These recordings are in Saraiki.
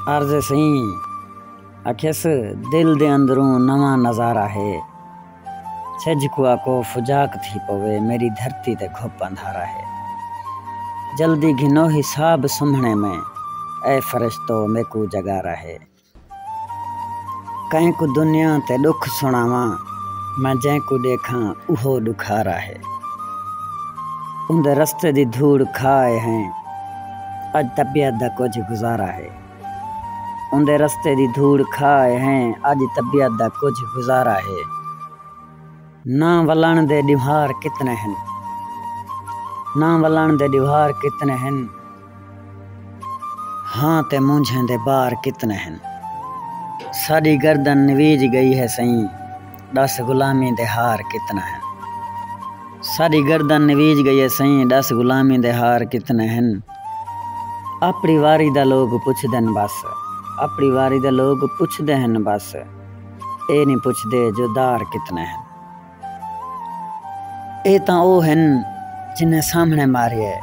عرض سئیں آکھیس دل دے اندروں نواں نظارہ ہے سجھ کو آکو فجاک تھی پوے میݙی دھرتی تے گھپ اندھارا ہے جلدی گھنو حساب سمھݨے میں اے فرشتو میکوں جگارا ہے۔ کئیں کوں دنیا تے ݙکھ سݨاواں میں جئیں کوں ݙیکھاں اوہو ݙکھارا ہے اوندے رستے دی دھوڑ کھا آئے ہیں اڄ طبیعت دا کجھ گزارا ہے اوندے رستے دی دھوڑ کھا آئے ہیں اڄ طبیعت دا کجھ گزارا ہے نہ ولݨ دے ݙیوہار کتنے ہن نہ ولݨ دے ݙیوہار کتنے ہن ہاں تے مونجھیں دے بار کتنے ہن۔ ساݙی گردن نویج ڳئی ہے سئیں ݙس غلامی دے ہار کتنے ہن۔ ساݙی گردن نویج ڳئی ہے سئیں ݙس غلامی دے ہار کتنے ہن۔ اپݨی واری دا لوک پچھدن بس اپݨی واری دا لوک پچھدے ہن بس اے نی پچھدے جو دار کتنے ہن۔ اے تاں او ہن جنھیں سامھݨے ماریا ہے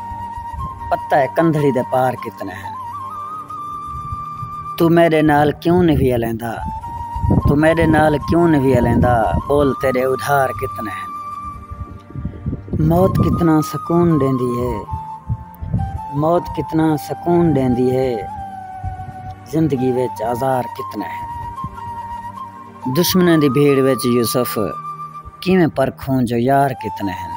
پتہ ہے کندھڑی دے پار کتنے ہن توں میݙے نال کیوں نی وی الیندا توں میݙے نال کیوں نی وی الیندا ٻول تیݙے ادھار کتنے ہن موت کتنا سکون ݙیندی ہے موت کتنا سکون ݙیندی ہے زندگی وچ آزار کتنے ہن۔ دشمناں دی بھیڑ وچ یوسف کیویں پرکھوں جو یار کتنے ہن۔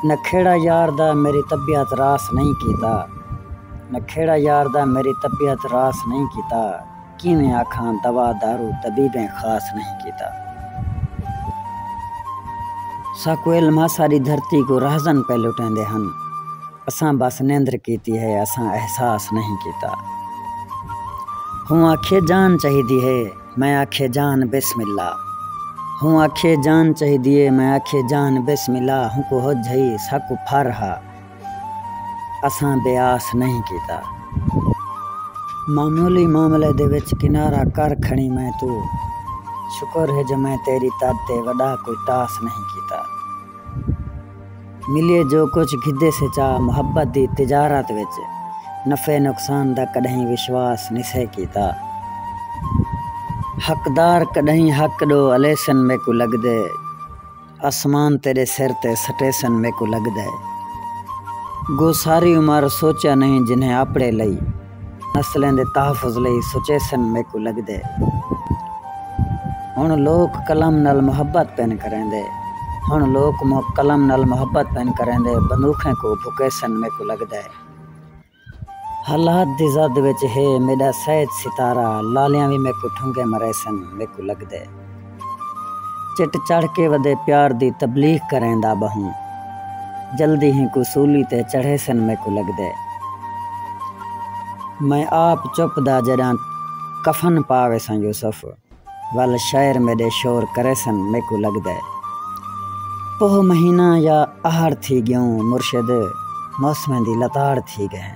نہ کھیڑا یار دا میݙی طبیعت راس نئیں کیتا۔ نہ کھیڑا یار دا میݙی طبیعت راس نئیں کیتا۔ کیویں آکھاں دوا دارو طبیبیں خاص نئیں کیتا۔ ساکوں علم ہا ساݙی دھرتی کوں راہزن پئے لٹیندے ہن۔ اساں بس نندر کیتی ہے اساں احساس نہیں کیتا ہوں آکھیے جان چاہیدی ہے میں آکھیے جان بسم اللہ ہوں آکھیے جان چاہیدی ہے میں آکھیے جان بسم اللہ ہوں کو ہج ہئی ساکو پھر ہا اساں بے آس نہیں کیتا معمولی معاملے دے وچ کنارہ کر کھڑی میں تو شکر ہے جو میں تیری تد تے وڈا کوئی تاس نہیں کیتا ملیے جو کجھ گھدے سے چا محبت دی تجارت وچ نفع نقصان دا کݙاہیں وشواس نسے کیتا حقدار کݙاہیں حق ݙو الیسن میکوں لڳدے آسمان تیݙے سر تے سٹیسن میکوں لڳدے گو ساری عمر سوچیا نہیں جنہیں آپڑے لئی نسلیں دے تحفظ لئی سچیسن میکوں لگدے ہن لوک قلم نال محبت پن کریندے ہن لوک قلم نال محبت پن کریندے بندوخیں کوں بھکیسن میکوں لگدے حالات دی زد وچ ہے میڈا سید ستارہ لالیاں وی میکوں ٹھنگے مریسن میکوں لگدے۔ چٹ چڑھ کے ودے پیار دی تبلیغ کریندا ٻہوں جلدی ہیکوں سولی تے چڑھیسن میکوں لگدے میں آپ چپ دا جݙاں کفن پا ویساں یوسف ول شعر میݙے شور کریسن میکوں لگدے پوہ مہینہ یا اہاڑ تھی ڳیوں مرشد موسمیں دی لتاڑ تھی ڳئیں۔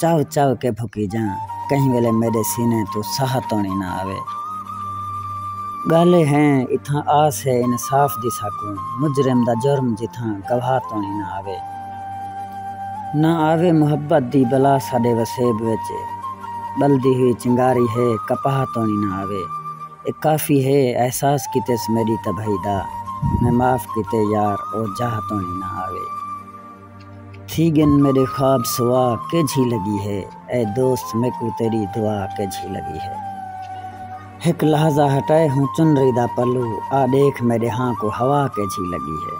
چاو چاو کے بھکی جاں کہیں ویلے میڈے سینے توں ساہ توڑیں نہ آوے گالھے ہیں اتھاں آس ہے انصاف دی ساکوں مجرم دا جرم جتھاں گواہ توڑیں نہ آوے نہ آوے محبت دی بلا ساڈے وسیب وچ بلدی ہوئی چنگاری ہے کپاہ توڑیں نہ آوے اے کافی ہے احساس کیتس میڈی تباہی دا میں معاف کیتے یار او جاہ توڑیں نہ آوے۔ تھی گن میڈے خواب سوا کیجھی لگی ہے اے دوست میکوں تیڈی دعا کیجھی لگی ہے ہک لحظہ ہٹائے ہوں چنری دا پلو آ ڈیکھ میڈے ہاں کو ہوا کیجھی لگی ہے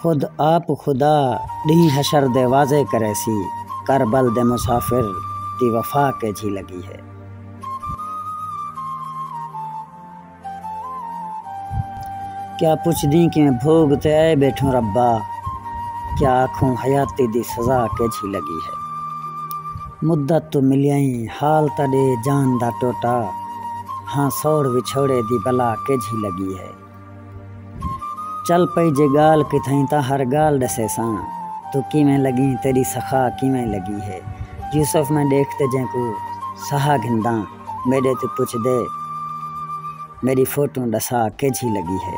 خود آپ خدا ڈینہہ حشر دے واضح کرے سی کربل دے مسافر دی وفا کیجھی لگی ہے۔ کیا پچھدیں کیویں بھوڳ تے آئے ٻیٹھوں ربا کیا آکھوں حیاتی دی سزا کیجھی لڳی ہے مدت توں ملیائیں حال تاں ݙے جان دا ٹوٹا ہاں سوڑ وچھوڑے دی بلا کیجھی لڳی ہے چل پئی جے ڳال کتھائیں تاں ہر ڳال ݙسیساں توں کیویں لڳیں تیݙی سخا کیویں لڳی ہے یوسف میں ݙیکھ تے جینکوں سہا گھنداں میڈے توں پچھدے میڈی فوٹو ڈسا کیجھی لگی ہے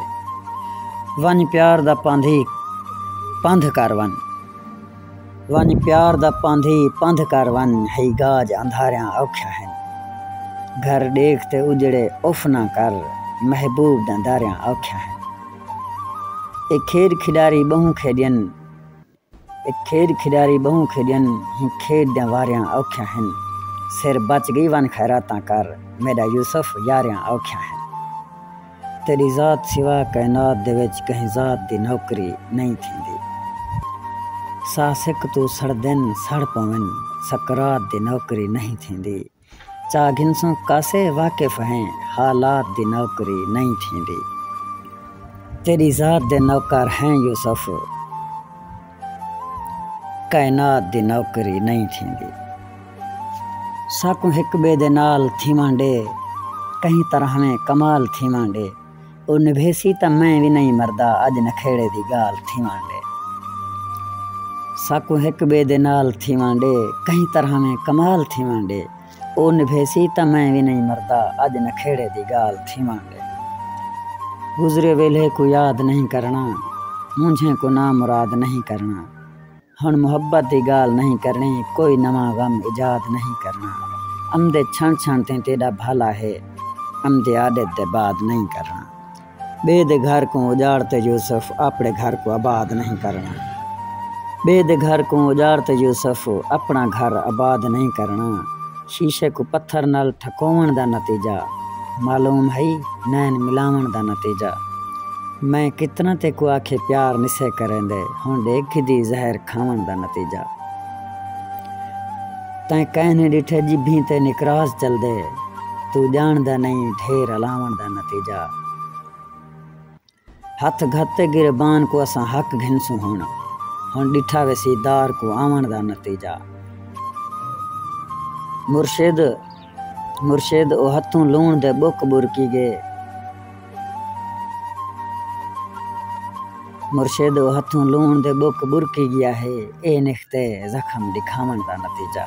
ونج پیار دا پاندھی پندھ کر ون ونج پیار دا پاندھی پندھ کر ون ہی گاج اندھاریاں اوکھیا ہیں گھر ڈیکھ تے اجڑے اف نہ کر محبوب دا داریاں اوکھیا ہیں اے کھیڈ کھڈاری بہوں کھیڈین اے کھیݙ کھݙاری ٻہوں کھیݙن ہوں کھیݙ دیاں واریاں اوکھیاں ہن سر بچ ڳئی ونڄ خیراتاں کر میݙا یوسف یاریاں اوکھیاں ہن تیݙی ذات سوا کائنات دے وچ کہیں ذات دی نوکری نئیں تھیندی ساہ سک توں سڑدن سڑ پون سکرات دی نوکری نئیں تھیندی۔ چا گھنسوں کاسے واقف ہیں حالات دی نوکری نئیں تھیندی تیڈی ذات دے نوکر ہیں یوسف کائنات دی نوکری نئیں تھیندی ساکوں ہک بے دے نال تھیون ڈے کہیں طرح میں کمال تھیون ڈے۔ او نبھیسی تاں میں وی نئیں مردا اڄ نکھیڑے دی ڳالھ تھیوݨ ݙے ساکوں ہک ٻئے دے نال تھیوݨ ݙے کہیں طرح میں کمال تھیوݨ ݙے او نبھیسی تاں میں وی نئیں مردا اڄ نکھیڑے دی ڳالھ تھیوݨ ݙے گزرے ویلھے کوں یاد نئیں کرݨا مونجھیں کوں نامراد نئیں کرݨا۔ ہݨ محبت دی ڳالھ نئیں کرݨی کوئی نواں غم ایجاد نئیں کرݨا امدے چھݨ چھݨ تیں تیݙا بھالا ہے امدے آݙت دے بعد نئیں کرݨا ٻئے دے گھر کوں اڄاڑ تے یوسف آپݨے گھر کوں آباد نئیں کرݨا ٻئے دے گھر کوں اڄاڑ تے یوسف آپݨا گھر آباد نئیں کرݨا۔ شیشے کوں پتھر نال ٹھکووݨ دا نتیجہ معلوم ہئی نین ملاوݨ دا نتیجہ میں کتنا تیکوں آکھے پیار نسے کریندے ہݨ ݙیکھ گھدی زہر کھاوݨ دا نتیجہ تیں کئیں نی ݙٹھے جبھیں تے نکراس چلدے توں ڄاݨدا نئیں ڈھیر الاوݨ دا نتیجہ۔ ہتھ گھت تے گریبان کوں اساں حق گھنسوں ہن ہن ڈٹھا ویسی دار کوں آونڑ دا نتیجہ مرشد مرشد او ہتھوں لوݨ دے بک برکی گے مرشد او ہتھوں لوݨ دے بک برکی گیا ہے اے نختے زخم ڈکھاونڑ دا نتیجہ۔